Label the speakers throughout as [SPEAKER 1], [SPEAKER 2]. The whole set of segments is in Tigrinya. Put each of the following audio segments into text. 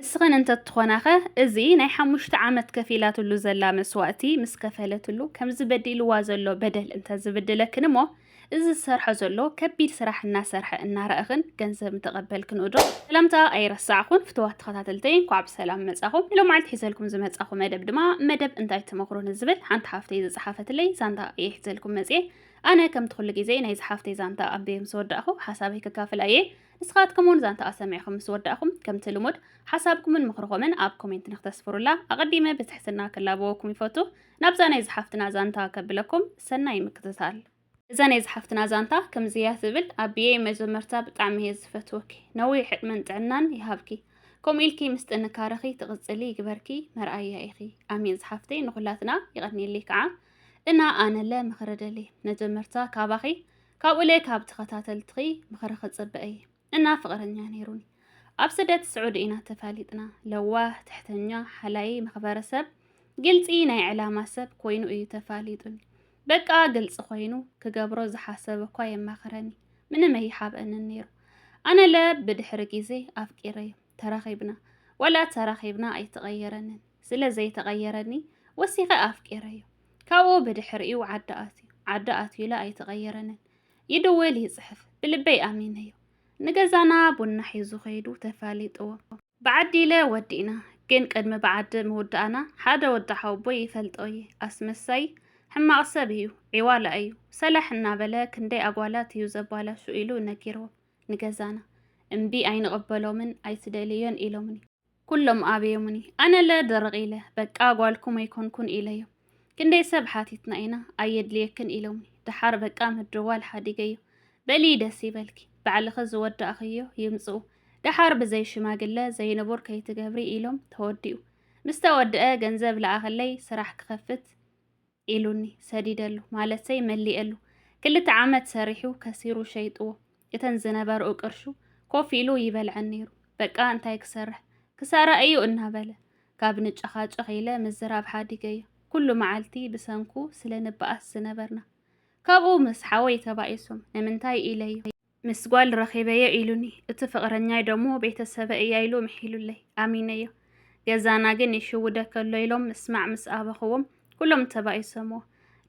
[SPEAKER 1] ንስኽን እንተትኾናኸ እዚ ናይ ሓሙሽተ ዓመት ከፊላትሉ ዘላ መስዋእቲ ምስ ከፈለትሉ ከምዚ በዲልዋ ዘሎ በደል እንተዝብድለክን እሞ እዚ ዝሰርሖ ዘሎ ከቢድ ስራሕ እናሰርሐ እናረእኽን ገንዘብ እንተቐበልክን እዶ? ሰላምታ ኣይረሳዕኹን ፍትዋት ተኸታተልተይ እንኳዕ ብሰላም መጻኹም። ሎም መዓልቲ ሒዘልኩም ዝመጻኹ መደብ ድማ መደብ እንታይ ትመኽሩ ንዝብል ሓንቲ ሓፍተይ ዝጸሓፈትለይ ዛንታ እየ ሒዘልኩም መጽኤ። ኣነ ከምቲ ኩሉ ግዜ ናይዚ ሓፍተይ ዛንታ ኣንቢበ ምስ ወዳእኹ ሓሳበይ ከካፍላ እየ። ንስኻትኩም እውን ዛንታኣ ሰሚዕኹም ምስ ወዳእኹም ከምቲ ልሙድ ሓሳብኩምን ምኽርኹምን ኣብ ኮሜንት ንክተስፍሩላ ኣቐዲመ ብትሕትና ክላበወኩም ይፈቱ። ናብዛ ናይ ዝሓፍትና ዛንታ ከብለኩም ሰናይ ምክትታል። እዛ ናይ ዝሓፍትና ዛንታ ከምዚ እያ ትብል ኣቢየይ መጀመርታ ብጣዕሚ እየ ዝፈትወኪ ነዊሕ ዕድመን ጥዕናን ይሃብኪ ከምኡ ኢልኪ ምስ ጥንካረኺ ትቕጽሊ ይግበርኪ መርኣያ ኢኺ ኣሜን ዝሓፍተይ ንኹላትና ይቐኒልይ ከዓ እና ኣነለ ምኽሪ ደሊ መጀመርታ ካባኺ ካብኡ ለይ ካብ ተኸታተልትኺ ምኽሪ ክጽበ እየ እና ፍቕረኛ ነይሩኒ ኣብ ስደት ስዑዲ ኢና ተፋሊጥና ለዋህ ትሕተኛ ሓላይ መኽበረ ሰብ ግልፂ ናይ ዕላማ ሰብ ኮይኑ እዩ ተፋሊጡኒ በቃ ግልፂ ኮይኑ ክገብሮ ዝሓሰበ እኳ የማኽረኒ ምንም ኣይሓብአንን ነይሩ ኣነ ለ ብድሕሪ ግዜ ኣፍቂረዩ ተራኺብና ወላ ተራኺብና ኣይተቐየረንን ስለ ዘይተቐየረኒ ወሲኸ ኣፍቂረዩ ካብኡ ብድሕሪኡ ዓዲ ኣትዩ። ዓዲ ኣትዩለ ኣይተቐየረንን። ይድውል ይጽሕፍ። ብልበይ ኣሚነዮ። ንገዛና ቡና ሒዙ ከይዱ ተፋሊጥዎ። ብዓዲለ ወዲእና። ግን ቅድሚ ብዓዲ ምውዳእና ሓደ ወዲ ሓወቦይ ይፈልጦ እየ። ኣስመሳይ ሕማቕ ሰብ እዩ። ዒዋላ እዩ። ሰላሕ እናበለ ክንደይ ኣጓላት እዩ ዘባላሹ ኢሉ ነጊርዎ። ንገዛና። እምቢ ኣይንቕበሎምን ኣይትደልዮን ኢሎምኒ። ኩሎም ኣበዮሙኒ ኣነለ ድርቕ ኢለ በቃ ጓልኩም ኣይኮንኩን ኢለዮም ክንደይ ሰብ ሓቲትና ኢና ኣየድልየክን ኢሎምኒ ደሓር በቃ ምድዋል ሓዲገዮ በሊ ደስ ይበልኪ ባዕልኺ ዝወዳእኽዮ ይምጽኡ ደሓር ብዘይ ሽማግለ ዘይንቡር ከይትገብሪ ኢሎም ተወዲኡ ምስተወድአ ገንዘብ ለኣኽለይ ስራሕ ክኸፍት ኢሉኒ ሰዲደሉ ማለተይ መሊኤሉ ክልተ ዓመት ሰሪሑ ከሲሩ ሸይጥዎ እተን ዝነበርኡ ቅርሹ ኮፍ ኢሉ ይበልዐን ነይሩ በቃ እንታይ ክሰርሕ ክሳራ እዩ እናበለ ካብ ንጨኻጨኽ ኢለ ምዝራብ ሓዲገዮ ኩሉ መዓልቲ ብሰንኩ ስለ ንበኣስ ዝነበርና ካብኡ ምስ ሓወይ ተባኢሶም ንምንታይ ኢለዮ ምስ ጓል ረኺበዮ ኢሉኒ እቲ ፍቕረኛይ ደሞ ቤተሰበ እያ ኢሉ ምሒሉለይ ኣሚነዮ ገዛና ግን ይሽውደ ከሎ ኢሎም ምስማዕ ምስ ኣበኽዎም ኩሎም ተባኢሶምዎ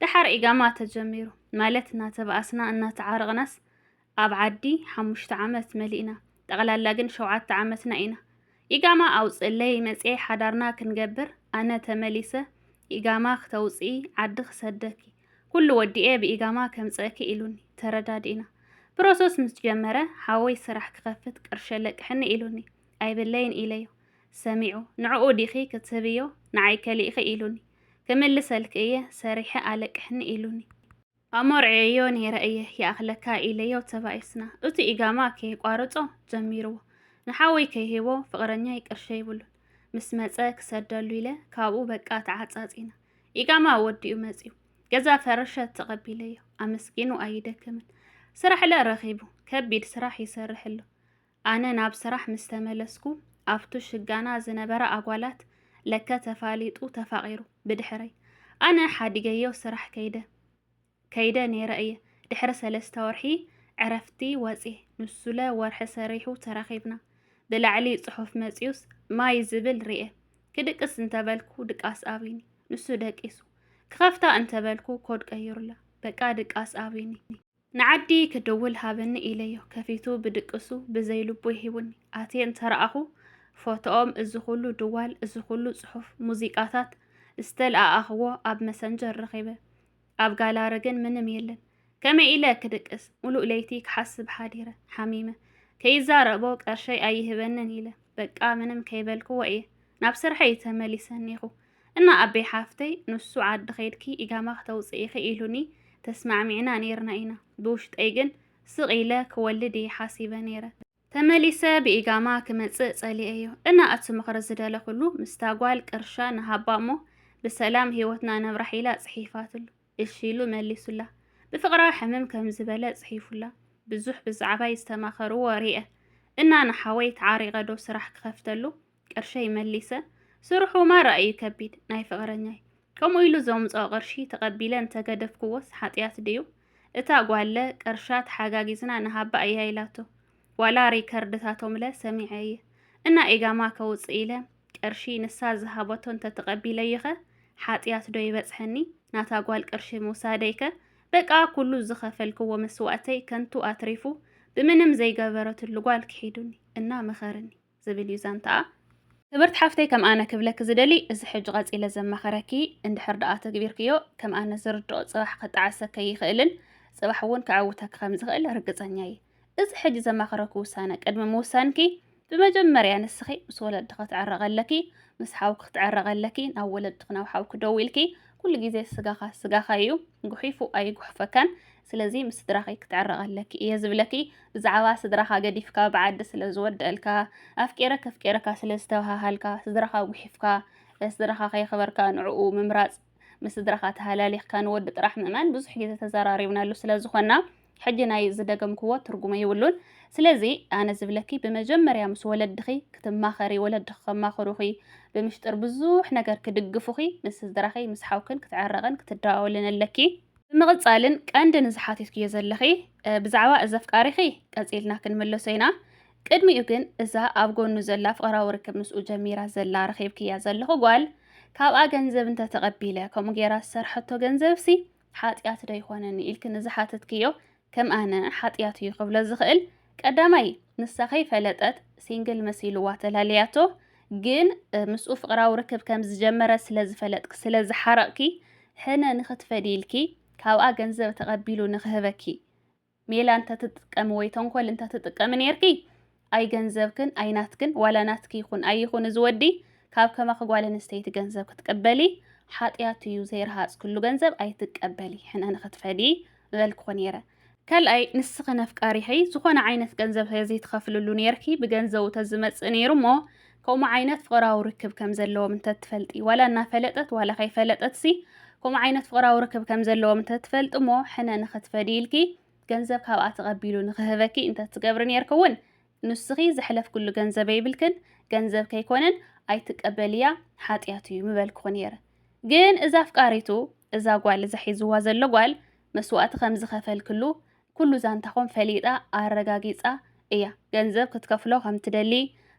[SPEAKER 1] ደሓር ኢጋማ ተጀሚሩ ማለት እናተባኣስና እናተዓረቕናስ ኣብ ዓዲ ሓሙሽተ ዓመት መሊእና ጠቕላላ ግን ሸውዓተ ዓመትና ኢና ኢጋማ ኣውፅእለይ መፅኤ ሓዳርና ክንገብር ኣነ ተመሊሰ ኢጋማ ክተውፅኢ ዓዲ ክሰደኪ ኩሉ ወዲኤ ብኢጋማ ከምጽእኪ ኢሉኒ ተረዳዲእና ፕሮሰስ ምስ ጀመረ ሓወይ ስራሕ ክኸፍት ቅርሺ ኣለቅሕኒ ኢሉኒ ኣይብለይን ኢለዮ ሰሚዑ ንዕኡ ዲኺ ክትህብዮ ንዓይ ከሊእኺ ኢሉኒ ክምልሰልኪ እየ ሰሪሐ ኣለቅሕኒ ኢሉኒ ኣሞርዕየዮ ነይረ እየ ይኣኽለካ ኢለዮ ተባኢስና እቲ ኢጋማ ከየቋርጾ ጀሚርዎ ንሓወይ ከይሂቦ ፍቕረኛይ ቅርሺ የብሉን ምስ መጸ ክሰደሉ ኢለ ካብኡ በቃ ተዓጻጺና ኢቃማ ወዲኡ መጺኡ ገዛ ፈረሸት ተቐቢለዮ ኣመስጊኑ ኣይደክምን ስራሕለ ረኺቡ ከቢድ ስራሕ ይሰርሕ ኣሎ። ኣነ ናብ ስራሕ ምስ ተመለስኩ ኣብቱ ሽጋና ዝነበረ ኣጓላት ለከ ተፋሊጡ ተፋቒሩ ብድሕረይ ኣነ ሓዲገዮ ስራሕ ከይደ ከይደ ነይረ እየ ድሕሪ ሰለስተ ወርሒ ዕረፍቲ ወፅየ ንሱለ ወርሒ ሰሪሑ ተራኺብና ብላዕሊ ፅሑፍ መፅዩስ ማይ ዝብል ርኤ ክድቅስ እንተበልኩ ድቃስ ኣብዩኒ ንሱ ደቂሱ ክኸፍታ እንተበልኩ ኮድ ቀይሩላ በቃ ድቃስ ኣብዩኒ ንዓዲ ክድውል ሃበኒ ኢለዮ ከፊቱ ብድቅሱ ብዘይ ልቡ ይሂቡኒ ኣትየ እንተረኣኹ ፎቶኦም እዚ ኩሉ ድዋል እዚ ኩሉ ፅሑፍ ሙዚቃታት ዝተልኣኣኽዎ ኣብ መሰንጀር ረኺበ ኣብ ጋላሪ ግን ምንም የለን። ከመይ ኢለ ክድቅስ? ሙሉእ ለይቲ ክሓስብ ሓዲረ። ሓሚመ። ከይዛረቦ ቀርሸይ ኣይህበንን ኢለ። በቃ ምንም ከይበልክዎ እየ ናብ ስርሐይ ተመሊሰ እኔኹ። እና ኣቤ ሓፍተይ ንሱ ዓዲ ከይድኪ ኢጋማ ክተውፅኢኺ ኢሉኒ ተስማዕሚዕና ነይርና ኢና። ብውሽጠይ ግን ስቕ ኢለ ክወልድ እየ ሓሲበ ነይረ። ተመሊሰ ብኢጋማ ክመጽእ ጸሊኤዮ እና እቲ ምኽሪ ዝደለኹሉ ምስታ ጓል ቅርሻ ንሃባ እሞ ብሰላም ህይወትና ነብራሕ ኢላ ጽሒፋትሉ እሺ ኢሉ መሊሱላ ብፍቕራ ሕምም ከምዝበለ ጽሒፉላ ብዙሕ ብዛዕባይ ዝተማኸርዎ ሪኤ እና ንሓወይ ተዓሪቐ ዶ ስራሕ ክኸፍተሉ ቅርሸይ መሊሰ ስርሑ ማራ እዩ ከቢድ ናይ ፍቕረኛይ ከምኡ ኢሉ ዘምጽኦ ቅርሺ ተቐቢለ እንተገደፍክዎስ ሓጥያት ድዩ እታ ጓለ ቅርሻ ተሓጋጊዝና ንሃባ እያ ኢላቶ ዋላ ሪከርድታቶምለ ሰሚዐ እየ እና ኢጋማ ከውጽእ ኢለ ቅርሺ ንሳ ዝሃበቶ እንተተቐቢለዩኸ ሓጥያት ዶ ይበጽሐኒ ናታ ጓል ቅርሺ ምውሳደይከ በቃ ኩሉ ዝኸፈልክዎ መስዋእተይ ከንቱ ኣትሪፉ ብምንም ዘይገበረትሉ ጓል ክሒዱኒ እና መኸርኒ ዝብል እዩ ዛንታኣ። ክብርቲ ሓፍተይ ከም ኣነ ክብለኪ ዝደሊ እዚ ሕጂ ቀጺለ ዘማኽረኪ እንድሕር ድኣ ኣተግቢርክዮ ከም ኣነ ዝርድኦ ጽባሕ ክጣዓሰኪ ኣይኽእልን ጽባሕ ውን ከዕውተኪ ከም ዝኽእል ርግጸኛ እየ እዚ ሕጂ ዘማኽረኪ ውሳነ ቅድሚ ምውሳንኪ ብመጀመርያ ንስኺ ምስ ወለዲ ክትዕረቂ ኣለኪ ምስ ሓውኪ ክትዕረቂ ኣለኪ ናብ ወለድኪ ናብ ሓውኪ ደዊልኪ ኩሉ ግዜ ስጋኻ ስጋኻ እዩ ጉሒፉ ኣይጉሕፈካን ስለዚ ምስ ስድራኺ ክትዕረቂ ኣለኪ እየ ዝብለኪ ብዛዕባ ስድራኻ ገዲፍካ ብዓዲ ስለ ዝወደአልካ ኣፍቂረ ከፍቂረካ ስለ ዝተባሃሃልካ ስድራኻ ጉሒፍካ ስድራኻ ከየኽበርካ ንዕኡ ምምራፅ ምስ ስድራኻ ተሃላሊኽካ ንወዲ ጥራሕ ምእማን ብዙሕ ግዜ ተዘራሪብናሉ ስለ ዝኾና ሕጂ ናይ ዝደገምክዎ ትርጉሙ ይብሉን ስለዚ ኣነ ዝብለኪ ብመጀመርያ ምስ ወለድኺ ክትማኸሪ ወለድኺ ከማኽሩኺ ብምሽጥር ብዙሕ ነገር ክድግፉኺ ምስ ስድራኺ ምስ ሓውክን ክትዕረቕን ክትደዋወልን ኣለኪ ብምቕጻልን ቀንዲ ንዝሓቲትክዮ ዘለኺ ብዛዕባ እዚ ኣፍቃሪኺ ቀጺልና ክንምለሶ ኢና ቅድሚኡ ግን እዛ ኣብ ጎኑ ዘላ ፍቕራዊ ርክብ ምስኡ ጀሚራ ዘላ ረኺብክያ ዘለኹ ጓል ካብኣ ገንዘብ እንተ ተቐቢለ ከምኡ ጌራ ዝሰርሐቶ ገንዘብሲ ሓጢኣት ዶ ኣይኮነን ኢልኪ ንዝሓተትክዮ ከም ኣነ ሓጥያት እዩ ክብሎ ዝኽእል ቀዳማይ ንሳ ከይፈለጠት ሲንግል መሲልዋ ተላልያቶ ግን ምስኡ ፍቅራዊ ርክብ ከም ዝጀመረት ስለ ዝፈለጥኪ ስለ ዝሓረቅኪ ሕነ ንክትፈዲ ኢልኪ ካብኣ ገንዘብ ተቀቢሉ ንክህበኪ ሜላ እንተትጥቀሚ ወይ ተንኮል እንተትጥቀሚ ኔርኪ ኣይ ገንዘብክን ኣይ ናትክን ዋላ ናትኪ ይኹን ኣይ ይኹን እዚ ወዲ ካብ ከማኺ ጓል ኣንስተይቲ ገንዘብ ክትቅበሊ ሓጥያት እዩ ዘይረሃጽክሉ ገንዘብ ኣይትቀበሊ ሕነ ንኽትፈዲ ምበልክኹ ነይረ ካልኣይ ንስኺ ነፍቃሪኺ ዝኾነ ዓይነት ገንዘብ ተዘይትኸፍልሉ ነይርኪ ብገንዘቡ ተዝመጽእ ነይሩ እሞ ከምኡ ዓይነት ፍቕራዊ ርክብ ከም ዘለዎም እንተትፈልጢ ዋላ እናፈለጠት ዋላ ከይፈለጠትሲ ከምኡ ዓይነት ፍቕራዊ ርክብ ከም ዘለዎም እንተትፈልጢ እሞ ሕነ ንኽትፈዲ ኢልኪ ገንዘብ ካብኣ ተቐቢሉ ንኽህበኪ እንተ ትገብሪ ኔርክውን፣ ንስኺ ዘሕለፍክሉ ገንዘብ የብልክን፣ ገንዘብ ከይኮነን ኣይትቀበልያ ሓጥያት እዩ ምበልክኹ ኔረ። ግን እዛ ኣፍቃሪቱ፣ እዛ ጓል እዛ ሒዝዋ ዘሎ ጓል መስዋእቲ ከም ዝኸፈልክሉ ኩሉ ዛንታኹም ፈሊጣ ኣረጋጊጻ እያ። ገንዘብ ክትከፍሎ ከም ትደሊ፣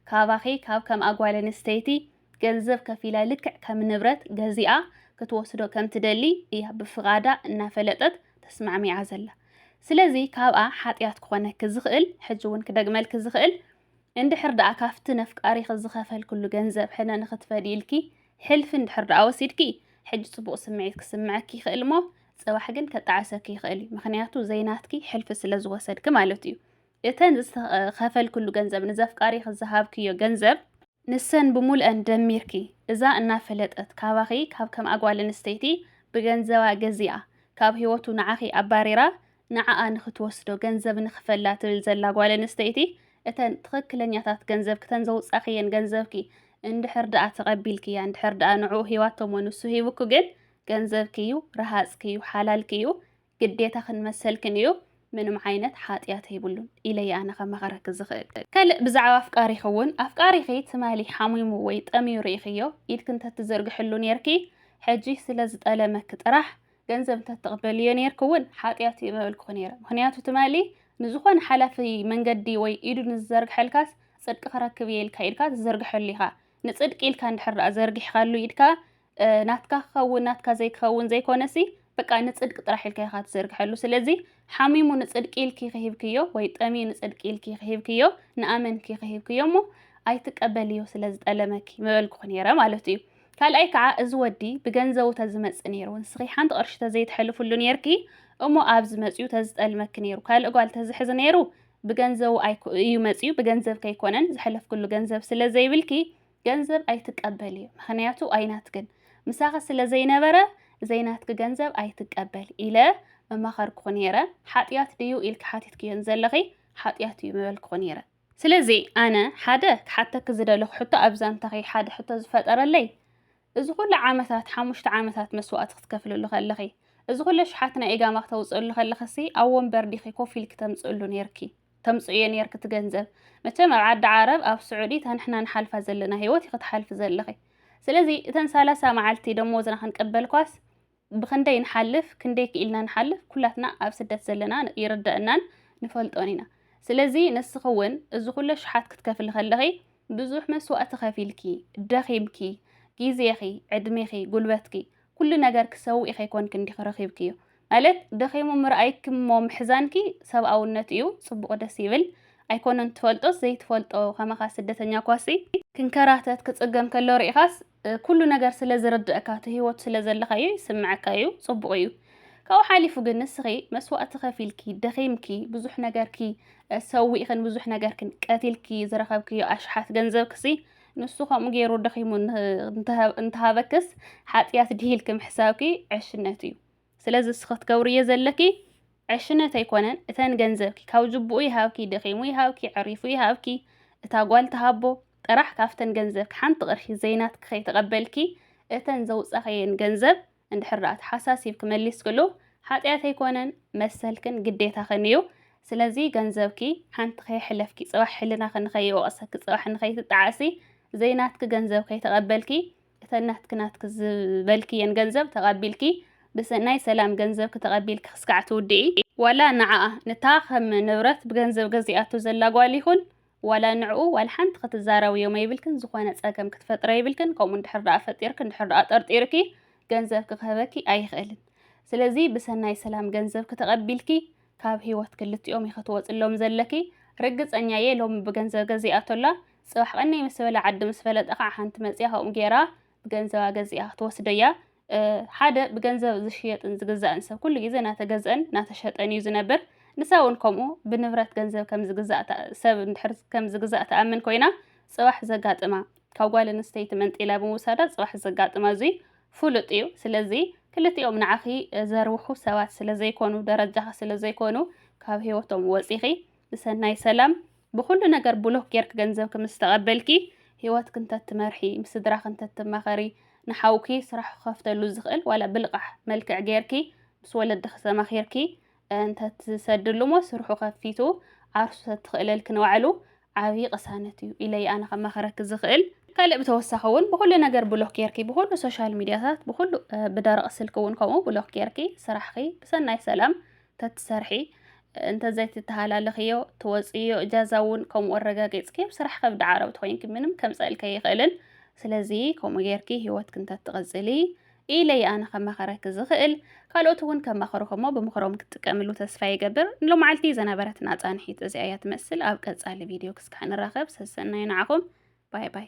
[SPEAKER 1] ካባኺ ካብ ከምኣ ጓል ኣንስተይቲ፣ ገንዘብ ከፊላ ልክዕ ከም ንብረት ገዚኣ ክትወስዶ ከም ትደሊ እያ ብፍቓዳ እናፈለጠት ተስማዕሚዓ ዘላ። ስለዚ ካብኣ ሓጥያት ክኾነኪ ዝኽእል ሕጂ እውን ክደግመልኪ ዝኽእል እንድሕር ደኣ ካብቲ ነፍቃሪኺ ዝኸፈልክሉ ገንዘብ ሕነ ንኽትፈድዪ ኢልኪ ሕልፊ እንድሕር ደኣ ወሲድኪ ሕጂ ጽቡቕ ስምዒት ክስምዐኪ ይኽእል እሞ ጽባሕ ግን ከጣዕሰኪ ይኽእል እዩ ምኽንያቱ ዘይናትኪ ሕልፊ ስለ ዝወሰድኪ ማለት እዩ። እተን ዝኸፈልክሉ ገንዘብ ንዘፍቃሪኺ ዝሃብክዮ ገንዘብ ንሰን ብሙልኣን ደሚርኪ እዛ እናፈለጠት ካባኺ ካብ ከምኣ ጓል ኣንስተይቲ ብገንዘባ ገዚኣ ካብ ሂወቱ ንዓኺ ኣባሪራ ንዓኣ ንኽትወስዶ ገንዘብ ንኽፈላ ትብል ዘላ ጓል ኣንስተይቲ እተን ትኽክለኛታት ገንዘብኪ እተን ዘውጻኽየን ገንዘብኪ እንድሕር ደኣ ተቐቢልክያ እንድሕር ደኣ ንዕኡ ሂባቶሞ ንሱ ሂቡኪ ግን ገንዘብኪ እዩ ረሃጽኪ እዩ ሓላልኪ እዩ ግዴታኽን መሰልክን እዩ ምንም ዓይነት ሓጥያት የብሉን ኢለ እየ ኣነ ከማኽረኪ ዝኽእል። ካልእ ብዛዕባ ኣፍቃሪኺ እውን ኣፍቃሪኺ ትማሊ ሓሚሙ ወይ ጠምዩ ርኢኽዮ ኢድኪ እንተትዝርግሕሉ ኔርኪ ሕጂ ስለ ዝጠለመኪ ጥራሕ ገንዘብ እንተትቕበልዮ ኔርኪ እውን ሓጥያት እዩ ምበልኩኺ ኔረ ምኽንያቱ ትማሊ ንዝኾነ ሓላፊ መንገዲ ወይ ኢዱ ንዝዘርግሐልካስ ጽድቂ ክረክብ እየ ኢልካ ኢድካ ትዝርግሐሉ ኢኻ ንጽድቂ ኢልካ እንድሕር ደኣ ዘርጊሕኻሉ ኢድካ ናትካ ክኸውን ናትካ ዘይክኸውን ዘይኮነሲ በቃ ንጽድቂ ጥራሕ ኢልካ ኢኻ ትዝርግሐሉ ስለዚ ሓሚሙ ንጽድቂ ኢልኪ ክሂብክዮ ወይ ጠምዩ ንጽድቂ ኢልኪ ክሂብክዮ ንኣመንኪ ክሂብክዮ እሞ ኣይትቀበልዮ ስለ ዝጠለመኪ ምበልኩ ነይረ ማለት እዩ ካልኣይ ከዓ እዚ ወዲ ብገንዘቡ ተዝመፅእ ነይሩ ንስኺ ሓንቲ ቅርሺ ተዘይትሕልፍሉ ነይርኪ እሞ ኣብዚ መፅኡ ተዝጠልመኪ ነይሩ ካልእ ጓል ተዝሕዝ ነይሩ ብገንዘቡ እዩ መፅኡ ብገንዘብ ከይኮነን ዝሕለፍክሉ ገንዘብ ስለ ዘይብልኪ ገንዘብ ኣይትቀበልዮ ምክንያቱ ኣይናትክን ምሳኺ ስለ ዘይነበረ ዘይናትኪ ገንዘብ ኣይትቀበል ኢለ መማኸርኩኺ ነይረ ሓጥያት ድዩ ኢልኪ ሓቲትክዮ ንዘለኺ ሓጥያት እዩ ምበልኩኺ ነይረ ስለዚ ኣነ ሓደ ክሓተኪ ዝደለኹ ሕቶ ኣብ ዛንታኺ ሓደ ሕቶ ዝፈጠረለይ እዚ ኩሉ ዓመታት ሓሙሽተ ዓመታት መስዋእቲ ክትከፍልሉ ከለኺ እዚ ኩሉ ሽሓት ናይ ኢጋማ ክተውፅእሉ ከለኺሲ ኣብ ወንበር ዲኺ ኮፍ ኢልኪ ተምፅእሉ ነይርኪ ተምጽእዮ ኔርኪ እቲ ገንዘብ መቸም ኣብ ዓዲ ዓረብ ኣብ ስዑዲ እታ ንሕና ንሓልፋ ዘለና ሂወት ኢኺ ትሓልፊ ዘለኺ ስለዚ እተን ሳላሳ መዓልቲ ደሞዝና ክንቅበልኳስ ብኽንደይ ንሓልፍ ክንደይ ክኢልና ንሓልፍ ኩላትና ኣብ ስደት ዘለና ይርደእናን ንፈልጦን ኢና ስለዚ ንስኺ እውን እዚ ኩሉ ኣሽሓት ክትከፍሊ ከለኺ ብዙሕ መስዋእቲ ከፊልኪ ደኺምኪ ጊዜኺ ዕድሜኺ ጉልበትኪ ኩሉ ነገር ክሰውኢ ከይኮንኪ እንዲኺ ረኺብክዮ ማለት ደኺሙ ምርኣይኪ እሞ ምሕዛንኪ ሰብኣውነት እዩ ጽቡቅ ደስ ይብል ኣይኮነን ትፈልጦስ ዘይትፈልጦ ከማኻ ስደተኛ ኳሲ ክንከራተት ክጽገም ከሎ ሪኢኻስ ኩሉ ነገር ስለ ዝርደእካ እቲ ሂወቱ ስለ ዘለኻዮ ይስምዐካ እዩ ጽቡቅ እዩ ካብኡ ሓሊፉ ግን ንስኺ መስዋእቲ ከፊልኪ ደኺምኪ ብዙሕ ነገርኪ ሰዊእኽን ብዙሕ ነገርክን ቀቲልኪ ዝረኸብክዮ ኣሽሓት ገንዘብክሲ ንሱ ከምኡ ገይሩ ደኺሙ እንተሃበክስ ሓጢኣት ድሂ ኢልኪ ምሕሳብኪ ዕሽነት እዩ። ስለዚ ንስኺ ክትገብርዮ ዘለኪ ዕሽነት ኣይኮነን፣ እተን ገንዘብኪ ካብ ጅቡኡ ይሃብኪ፣ ደኺሙ ይሃብኪ፣ ዕሪፉ ይሃብኪ፣ እታ ጓል ትሃቦ ጥራሕ ካብተን ገንዘብኪ ሓንቲ ቅርሺ ዘይናትኪ ከይተቐበልኪ እተን ዘውጻኸየን ገንዘብ እንድሕር ደኣ ተሓሳሲብኪ መሊስክሉ ሓጥያት ኣይኮነን መሰልክን ግዴታኽን እዩ ስለዚ ገንዘብኪ ሓንቲ ከየሕለፍኪ ጽባሕ ሕልናኺ ንኸይወቕሰኪ ጽባሕ ንኸይትጠዓሲ ዘይናትኪ ገንዘብ ከይተቐበልኪ እተን ናትኪ ናትኪ ዝበልክየን ገንዘብ ተቐቢልኪ ብሰናይ ሰላም ገንዘብኪ ተቐቢልኪ ክስካዕ ትውድኢ ዋላ ንዓኣ ንታ ከም ንብረት ብገንዘብ ገዚኣቶ ዘላ ጓል ይኹን ዋላ ንዕኡ ዋላ ሓንቲ ክትዛረብዮ መይብልክን ዝኾነ ጸገም ክትፈጥረ ይብልክን ከምኡ እንድሕር ደኣ ፈጢርክ እንድሕር ደኣ ጠርጢርኪ ገንዘብኪ ክህበኪ ኣይኽእልን ስለዚ ብሰናይ ሰላም ገንዘብኪ ተቐቢልኪ ካብ ህይወት ክልቲኦም ኢኺ ትወጽሎም ዘለኪ ርግጸኛ እየ ሎሚ ብገንዘብ ገዚኣቶላ ጽባሕ ቐነይ ምስ በለ ዓዲ ምስ ፈለጠ ከዓ ሓንቲ መጽያ ከምኡ ጌራ ብገንዘባ ገዚኣ ክትወስዶ እያ። ሓደ ብገንዘብ ዝሽየጥን ዝግዛእን ሰብ ኩሉ ግዜ ናተገዝአን ናተሸጠን እዩ ዝነብር። ንሳ እውን ከምኡ ብንብረት ገንዘብ ከም ዝግዛእ ሰብ እንድሕር ከም ዝግዛእ ትኣምን ኮይና ጽባሕ ዘጋጥማ ካብ ጓል ኣንስተይቲ መንጢላ ብምውሳዳ ጽባሕ ዘጋጥማ እዙይ ፍሉጥ እዩ። ስለዚ ክልቲኦም ንዓኺ ዘርብሑ ሰባት ስለ ዘይኮኑ ደረጃኺ ስለ ዘይኮኑ ካብ ህይወቶም ወጺኺ ንሰናይ ሰላም ብኹሉ ነገር ብሎክ ጌርኪ ገንዘብኪ ምስ ተቐበልኪ፣ ህይወትኪ እንተትመርሒ፣ ምስ ስድራኺ እንተትማኸሪ፣ ንሓውኪ ስራሕ ክኸፍተሉ ዝኽእል ዋላ ብልቓሕ መልክዕ ጌርኪ ምስ ወለድኺ ተማኺርኪ እንተትሰድሉ'ሞ ስርሑ ከፊቱ ዓርሱ ተትኽእለልኪ ንባዕሉ ዓብዪ ቅሳነት እዩ ኢለ'የ ኣነ ከማኽረኪ ዝኽእል። ካልእ ብተወሳኺ እውን ብኹሉ ነገር ብሎክ ጌርኪ፣ ብኹሉ ሶሻል ሚድያታት፣ ብኹሉ ብደረቕ ስልኪ እውን ከምኡ ብሎክ ጌርኪ ስራሕኺ ብሰናይ ሰላም ተትሰርሒ እንተዘይትተሃላለኽዮ ትወጽእዮ እጃዛ እውን ከምኡ ኣረጋጊጽኪ ኣብ ስራሕ ከብዲ ዓረብቲ ኮይንኪ ምንም ከምጸእልኪ ኣይኽእልን ስለዚ ከምኡ ጌርኪ ሂወትኪ እንተትቕጽሊ ኢለይ ኣነ ከማኸረኪ ዝኽእል ካልኦት እውን ከማኸሩኹ እሞ ብምኽሮም ክትጥቀምሉ ተስፋ ይገብር ንሎማዓልቲ ዘነበረትና ጻንሒት እዚኣ እያ ትመስል ኣብ ቀጻሊ ቪድዮ ክስካዕ ንራኸብ ሰሰናዩ ንዓኹም ባይ ባይ